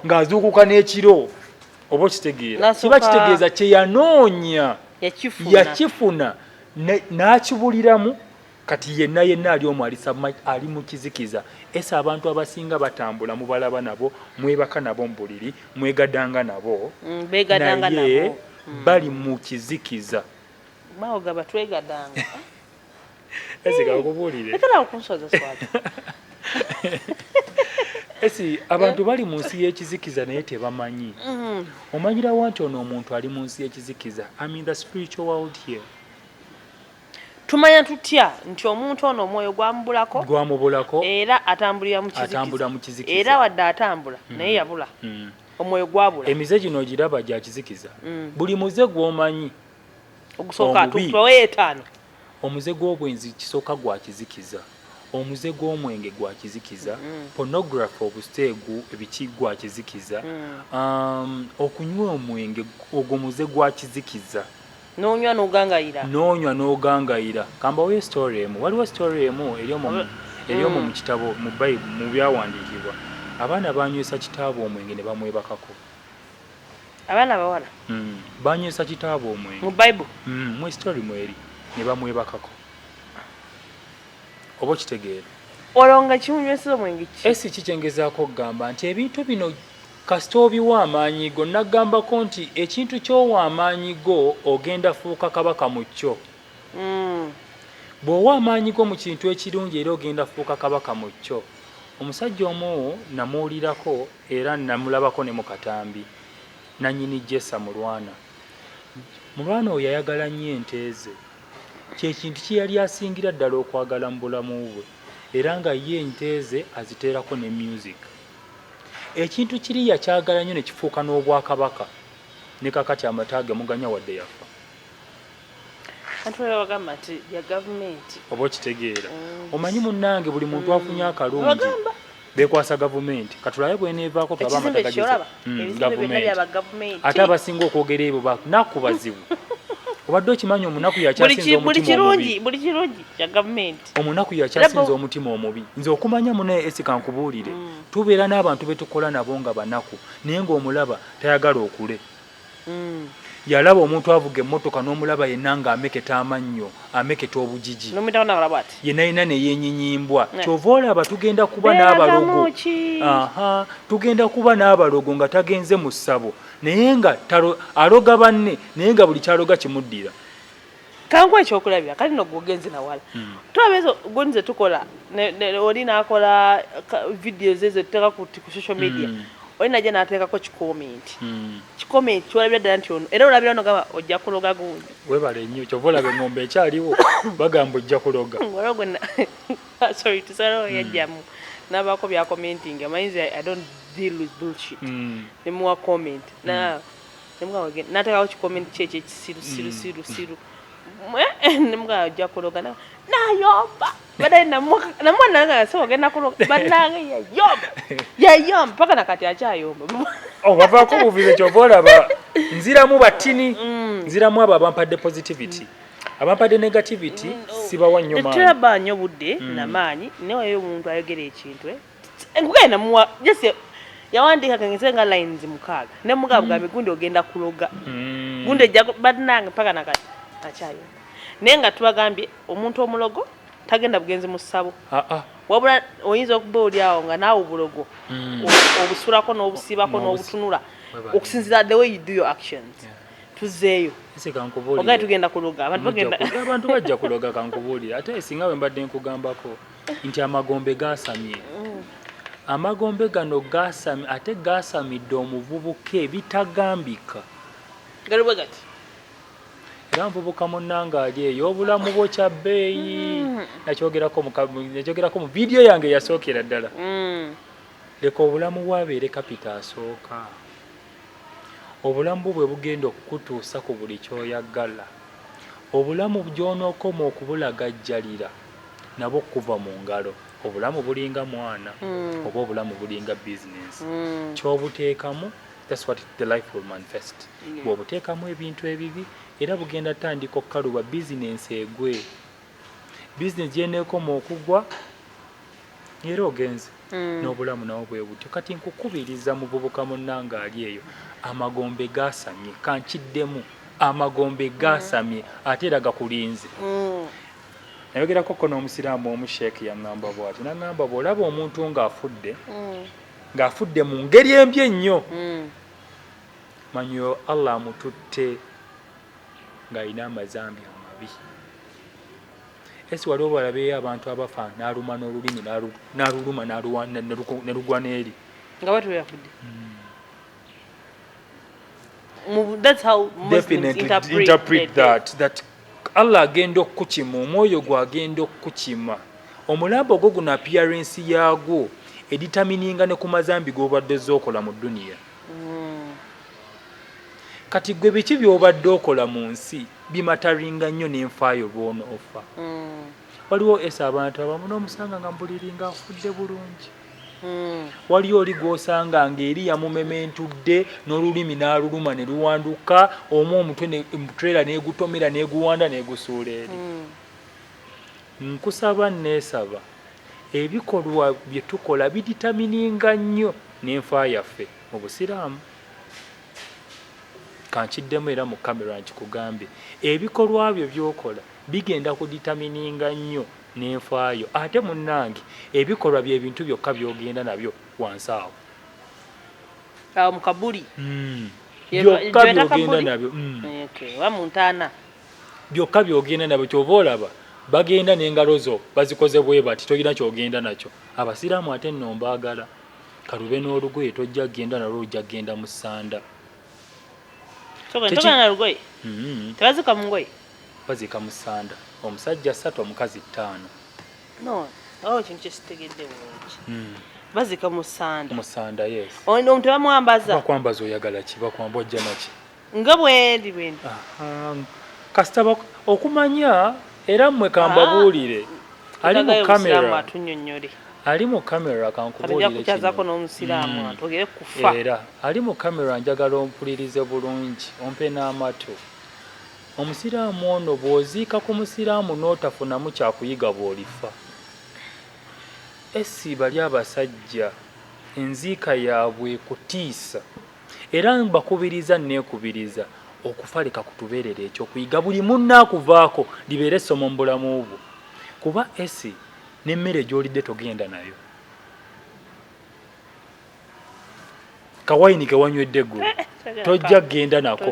ng'azuukuka n'ekiro oba okitegeera kiba kitegeeza kyeyanoonya yakifuna n'akibuliramu Kati yenna yenna ali omwo ali submerged, ali mu kizikiza. Ese abantu abasinga batambula, mubalaba nabo, mwebaka nabo mu buliri, mwegadanga nabo, mm, begadanga naye nabo. Mm. bali mu kizikiza. Bawo gaba twegadanga. Ese kakubuulire. Lekera okunsoza swali. Esi abantu bali mu nsi y'ekizikiza naye tebamanyi. Mm. Omanyira wanti ono omuntu ali mu nsi y'ekizikiza. I'm in the spiritual world here. tumanya tutya nti omuntu ono omwoyo gwamubulako gwamubulako era atambulira mu atambulira mu kizikiza era wadde atambula mm. naye yabula mm. omwoyo gwabula emize gino ogiraba gya kizikiza mm. buli muze gwomanyi ogusooka tuwayo etaano omuze gw'obwenzi kisooka gwa kizikiza omuze gw'omwenge gwa kizikiza mm. pornography obusteegu ebiki gwa kizikiza mm. um, okunywa omwenge ogwo muze gwa kizikiza nonywa nogangayira nonywa nogangayira kambawoyo story emu waliwo story emu eri omu eri omu mu kitabo mu bayibuli mu byawandiikibwa abaana banywesa kitaabwe omwenge ne bamwebakako abaana bawala mm. banywesa kitaabwe omwenge mu bayibuli mm. mu story mweri ne bamwebakako oba okitegeera olwo nga kimunyweseza omwenge ki esi kikyengezaako okugamba nti ebintu bino Kasita obiwa amaanyi go, nnaggambako nti, Ekintu ky'owa amaanyi go, ogenda fuuka kabaka mu kyo. Mm. Bw'owa amaanyi go mu kintu ekirungi era ogenda fuuka kabaka mu kyo. Omusajja omu namuwulirako era namulabako ne mu katambi, nannyini Jesa Mulwana. Mulwana oyo yayagala nnyo ente ze. Kye kintu kye yali asingira ddala okwagala mu bulamu bwe era nga ye ente ze aziteerako ne myuziki. Ekintu kiri yakyagala nnyo ne kifuuka n'obwakabaka, ne kaakati amata ge muganya wadde yafa. Anti waliwo abagamba nti bya gavumenti. Oba okitegeera. Mm. Omanyi munnange buli muntu afunye mm. akalungi. bekwasa gavumenti katulabe bwenevaako tulabe amatagajeza mm, gavumenti ate abasinga okwogera ebyo bakunaku bazibu obadde okimanyi omunaku yakyasinza omutima omubi buli kirungi kya gavumenti omunaku yakyasinza omutima omubi nze okumanya munaye esika nkubuulire mm. tubeera n'abantu betukola nabo nga banaku naye ngaomulaba tayagala okule mm. yalaba omuntu avuga emmotoka n'omulaba yenna nga ameketa amannyo ameketa obujiji yenayina neyenyinyibwa eh. kyova olaba tugenda kuba n'abalogo tugenda kuba n'abalogo nga tagenze mu ssabo naye nga aloga banne naye nga buli kyaloga kimuddira kankuwa ekyokulabira kale no gwe ogenze nawala hmm. tulaba ezo goni zetukola oli nakola vidiyo ze zetuteeka ku social media hmm. oli naja nateekako kikomenti hmm. kikomenti kiwalabira ddala nti ono era olabira ono gamba ojja kuloga gundi webale nnyo kyova olaba engombe ekyaliwo bagamba ojja kuloga sorry tusalawo yajjamu nabaako byakomentinga amayinza i don't deal with bullshit nemuwa comment na natekawo kikomenti kye ekyekisiru siru siru siru mbwa ajja kuloga nayomba badaye namwana nga yasaba ogenda kuloga banange yayomba yayomba paka nakati akyayomba oh, wavaako obuvize kyova olaba nziramu batini mm. nziramu abo abampadde positivity mm. abampadde negativity mm, oh. sibawa nyo maanyi teba nyo budde mm. na maanyi naye wayo omuntu ayogera ekintu eh? Enkuga ena muwa just yawandiika kengeze nga lines mukaaga ne muga mm. bugambi gundi ogenda kuloga mm. gundi ejja badnanga paka nakati akyayo naye nga tubagambye omuntu omulogo tagenda bugenzi mu ssabo ah, ah. wabula oyinza okuba oli awo nga naawe obulogo mm. obusulako n'obusiibako n'obutunula okusinzira the way you do your actions yeah. tuzeeyo ogaye tugenda kuloga abantu bajja kuloga kankubuulire ate singa we mbadde nkugambako nti amagombe gaasamye mm. amagombe gano gaasami ate gaasamidde omuvubuka ebitagambika galiwe gati era nvubuka munnanga ali eyo obulamu bwo kya bbeeyi mm. nakyogerako mu vidiyo yange yasookera ddala mm. leka obulamu bwabeere kapita asooka obulamu bwo bwe bugenda okukutuusa ku buli kyoyagala obulamu gy'onookoma okubulagajjalira nabo kuva mu ngalo obulamu bulinga mwana mm. oba obulamu bulinga business mm. kyobuteekamu that's what the life will manifest yeah. bwobuteekamu ebintu ebibi era bugenda tandika okukaluba bizinensi egwe bizinesi gyeneekoma okugwa era ogenze mm. n'obulamu nawo bwe butyo kati nkukubiriza muvubuka munnanga ali eyo amagombe gasamye kankiddemu amagombe gasamye ate era gakulinze mm. nayogerako ko n'omusiraamu omu sheekh yaŋŋamba bwati naŋŋamba bw'olaba omuntu ng'afudde mm. ng'afudde mu ngeri embi ennyo mm. manyo allah amututte ng'alina amazambi amabi esi wali obalabeeyo abantu abafa n'aluma n'olulimi n'aluluma nelugwa n'eri nga bati weyafudde mm. that's how Muslims interpret, interpret that, that Allah agenda okukukima omwoyo gwo agenda okukukima omulambo ogwo guno appearance yaagwo editamininga ne ku mazambi g'obadde ozze okola mu duniya hmm. kati gwe biki by'obadde okola mu nsi bimataringa nnyo n'enfaayo lw'onoofa hmm. waliwo esa abantu abamu n'omusanga nga mbuliri nga afudde bulungi Hmm. waliyo oli gw'osanga ng'eri yamumementudde n'olulimi n'aluluma ne luwanduka omu omutwe mutrela n'egutomera n'eguwanda n'egusuula eri hmm. nkusaba neesaba ebikolwa bye tukola biditamininga nnyo n'enfa yaffe mu busiraamu kankiddemu era mu kamera nkikugambe ebikolwa byo by'okola bigenda kuditamininga nnyo nenfaayo ate munange ebikolwa byebintu byokka byogenda nabyo wansi awo awo mukabuli hmm. byokka byogenda nabyo hmm. eh, byokka byogenda nabyo kyova olaba bagenda nengalo zo bazikoze bwebati tolina kyogenda nakyo abasiraamu ate nombaagala kalube n'olugoye tojja kgenda nalwo lujja kgenda mu sanda mm-hmm. tebazika mungoye bazika musanda omusajja satu omukazi ttaano no awo oh, kintu kyesitegedde bulungi hmm. bazika musanda musanda yes ono omuntu bamwambaza bakwambaza oyagala ki bakwamba ojja naki nga bwendi bwendi kasita okumanya Era mwe kambabuulire ali mu camera ali mu camera kankubuulire mm. era ali mu camera njagala ompulirize bulungi ompe n'amatu omusiraamu ono bw'oziika ku musiraamu n'otafunamu kyakuyiga bw'olifa esi bali abasajja enziika yaabwe kutiisa Era mbakubiriza nneekubiriza okufa leka kutubeerere ekyokuyiga buli munno akuvaako libeere essomo mu bulamu bwo kuba esi n'emmere gy'olidde togenda nayo kawayini ke wanywedde ggulo eh, eh, tojja kugenda nako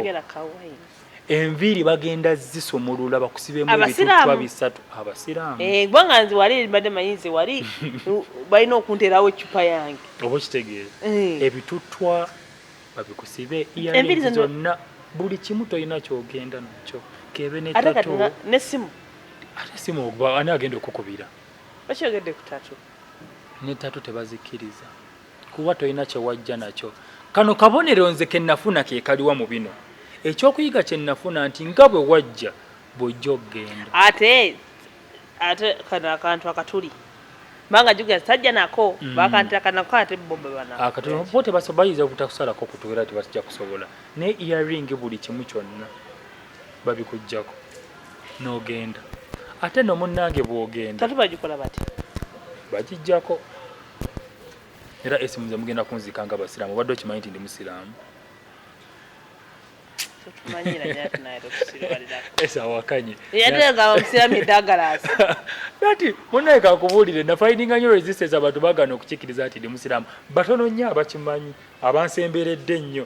enviiri bagenda zisumulula bakusibemu ebituttwa bisatu abasiraamu eh, kubanga nze wali mbadde manyi nze wali balina okunterawo eccupa yange oba okitegeera eh. ebituttwa babikusibe iyalingi zonna buli kimu tolina kyogenda nakyo kebe ne tatu ne simu ate simu ogba ani agenda okukubira okyogedde ku tatu ne tatu tebazikiriza kuba tolina kyewajja nakyo kano kabonero nze kenafuna kekaliwa mu bino ekyokuyiga kyenafuna nti nga bwe wajja bwojja okugenda ate ate kano akantu akatuli manga juga sajja nako mm. bakantira kana kwa ate bombe bana akati ah, bote baso bayiza kutakusala ko kutuwera ti basija kusobola ne earring buli kimu kyonna babi kujjako no genda ate no munnange bwogenda tatu bajikola bati bajijjako era esimu nze mugenda kunzika nga basiraamu obadde okimanyi nti ndi musiraamu esawakanye ati munaye kakubuulire nafaidinga nyo resistance abantu bagana okukikiriza nti ndi musiraamu batono nnyo abakimanyi abansemberedde ennyo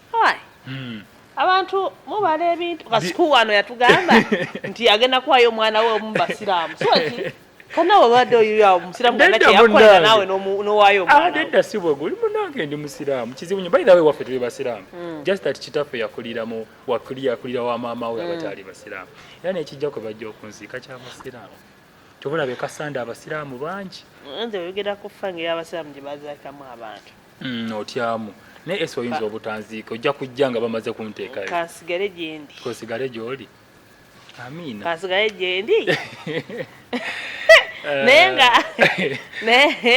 Hmm. abantu mubala ebintu kasiku wano yatugamba nti agenda kuwayo omwana we omu basiraamu soki kana wabadde oyo omusiraamu kana kyeyakolera naawe nowaayo omwanadda ah, si bwe guli munange ndi musiraamu kizibu nyo bayira we waffe tuli basiraamu hmm. just that kitaffe yakulira mu wakuli yakulira wa maama we hmm. abataali basiraamu era nekijja kwe bajja okunziika kya musiraamu tobulabe kasanda abasiraamu bangi nze oyogera ku fange y'abasiraamu gye bazaakamu abantu Mm, otyamu naye esi oyinza obutanziika ojja kujja nga bamaze kunteekayo kansigale gyendi kansigale gyoli amiina kansigale gyendi eh. naye nga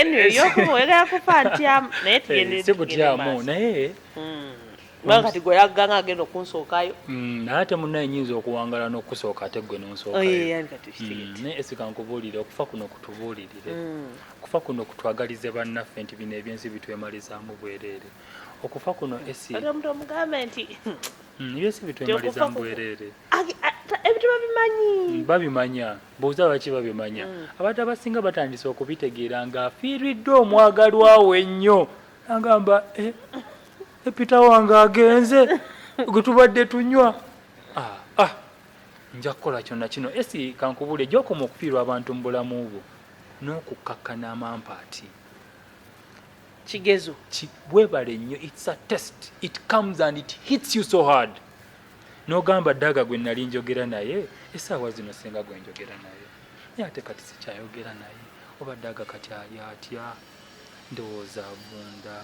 nyoyokuwegera kufa ntyamu naye tugendesibutyamu eh, naye hmm. kubanga kati gwe yagganga agenda okunsookayo hmm, naye ate munaye nyinza okuwangala n'okusooka ate gwe nonsookayo oh, hmm, naye esikankubuulire okufa kuno kutubuulirire Okufa kuno kutwagalize bannaffe nti bino ebyensi bitwemalizaamu bwereere. Okufa kuno esi kati omuntu omugambe nti mm, ebyensi bitwemalizaamu bwereere ebintu babimanyi mm, babimanya buuza lwaki babimanya mm. abantu abasinga batandise okubitegeera nga afiiriddwa omwagalwa we ennyo agamba eh, epita eh, wange agenze gwe tubadde tunywa ah, ah, nja kukola kyonna kino esi kankubule gyokoma okufiirwa abantu mu bulamu bwo n'okukkakkana amampaati kigezo webale nnyo its a test it comes and it hits you so hard nogamba daga gwe nali njogera naye esaawa zino senga gwe njogera naye naye ate kati sikyayogera naye oba daga kati ali atya Ndowooza avunda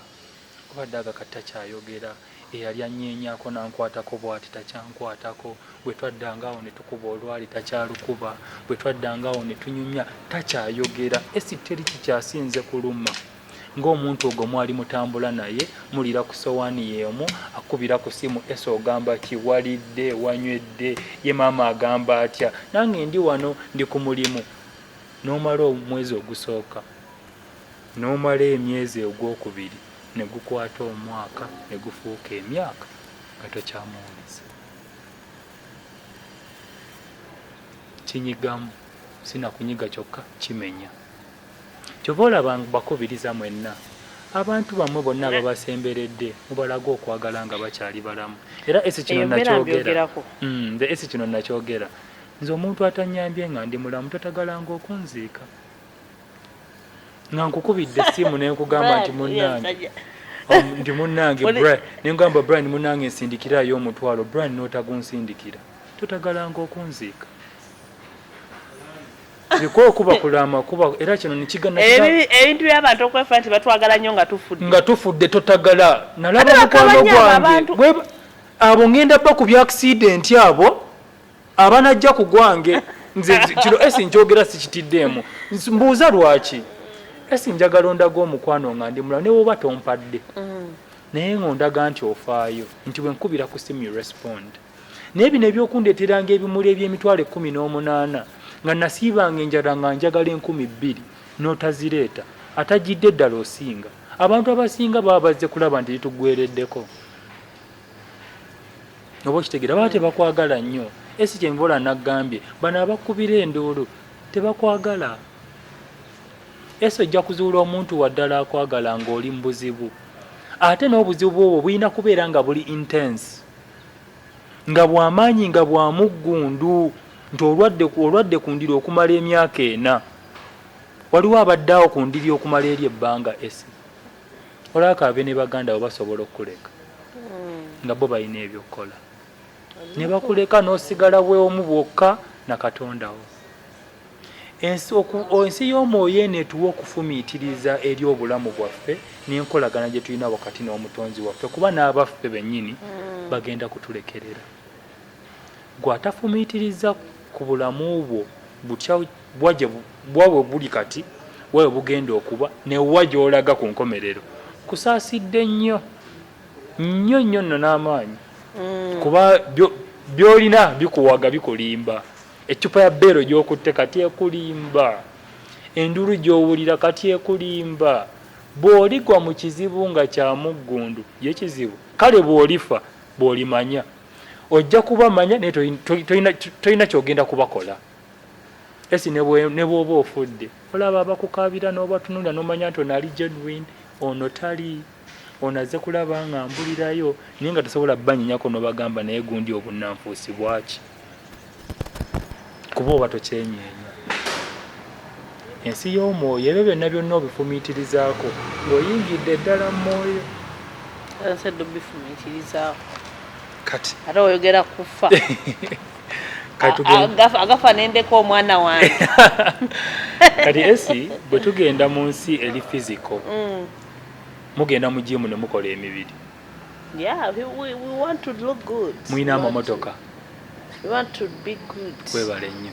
kuba Daaga kati takyayogera. Eyali annyeenyaako n'ankwatako bw'ati takyankwatako. Bwe twaddanga awo ne tukuba olwali takyalukuba. Bwe twaddanga awo ne tunyumya takyayogera. Esi teri kikyasinze kuluma ng'omuntu ogwo mwali mutambula naye mulira ku sowaani y'emu akubira ku simu esi ogamba ki walidde wanywedde ye maama agamba atya nange ndi wano ndi ku mulimu n'omala omwezi ogusooka n'omala emyezi ogwokubiri ne gukwata omwaka ne gufuuka emyaka nga tokyamuwuliza. Kinyigamu, si na kunyiga kyokka, kimenya. Kyova olaba bakubiriza mwenna abantu bamwe bonna ababasemberedde mubalage okwagala nga bakyali balamu era esi kino nakyogera mm, esi kino nakyogera nze omuntu atanyambye nga ndi mulamu totagalanga okunziika nga nkukubidde essimu ne nkugamba nti munnange ndi munnange bra ne nkugamba bra ndi munnange nsindikiraayo omutwalo bra n'otagunsindikira totagalanga okunziika kikuwa okuba kulama kuba era kino nekigana ebintu byabantu okwefa nti batwagala nnyo nga tufudde nga tufudde totagala nalaba mukwano gwange abo ngenda ba ku byakisidenti abo abanajja ku gwange nze kino esi njogera sikitiddeemu mbuuza lwaki esi njagala ondaga omukwano nga ndi mulamu newoba tompadde mm. naye nga ondaga nti ofaayo nti wenkubira ku simu respond naye bino ebyokundeteranga ebimuli ebyemitwalo ekumi n'omunaana nga nasiibanga enjala nga njagala enkumi bbiri n'otazireeta atajjidde eddala osinga abantu abasinga baba bazze kulaba nti litugwereddeko oba okitegera baba tebakwagala nnyo esi kyenvola nagambye bano abakubira enduulu tebakwagala esi ojja kuzuula omuntu waddala akwagala ngaoli mu buzibu ate n'obuzibu bwobwo bulina kubeera nga buli intense nga bwamaanyi nga bwamuggundu nti olwadde olwadde ku ndiri okumala emyaka ena waliwo abaddaawo ku ndiri okumala eri ebbanga esi olaba kaabe ne baganda bo basobola okukuleka hmm. nga bo balina ebyokukola ne bakuleka n'osigala bweomu bwokka na katondawo ensi y'omwoyo eno etuwa okufumiitiriza eri obulamu bwaffe n'enkolagana gye tulina wakati n'omutonzi waffe kuba n'abaffe bennyini hmm. bagenda kutulekerera gwe atafumiitiriza ku bulamu bwo butya Bwa gye bwa we buli kati, wa we bugenda okuba, ne wa gy'olaga ku nkomerero. Nkusaasidde nnyo, nnyo nnyo nno n'amaanyi, kuba byo, by'olina bikuwaga, bikulimba. Eccupa ya beero gy'okutte kati ekulimba. Enduulu gy'owulira kati ekulimba. Bw'oligwa mu kizibu nga kya muggundu, ye kizibu? Kale bw'olifa, bw'olimanya. Ojja kubamanya, naye toli, toli, tolina, tolina ky'ogenda kubakola. esi ne bwoba ofudde olaba abakukaabira n'obatunulira n'omanya nti ono ali genuine ono tali ono azze kulaba nga mbulirayo naye nga tosobola banyinyako n'obagamba naye gundi obunnanfuusi bwaki kuba oba tokyenyeenya ensi y'omwoyo ebyo byonna byonna obifumiitirizaako ng'oyingidde eddala mu mwoyo kati ate oyogera kufa agafa nendeka omwana wange kati esi bwe tugenda mu nsi eri fiziko mm. mugenda mu jimu ne mukola emibiri mulina amamotoka webale nnyo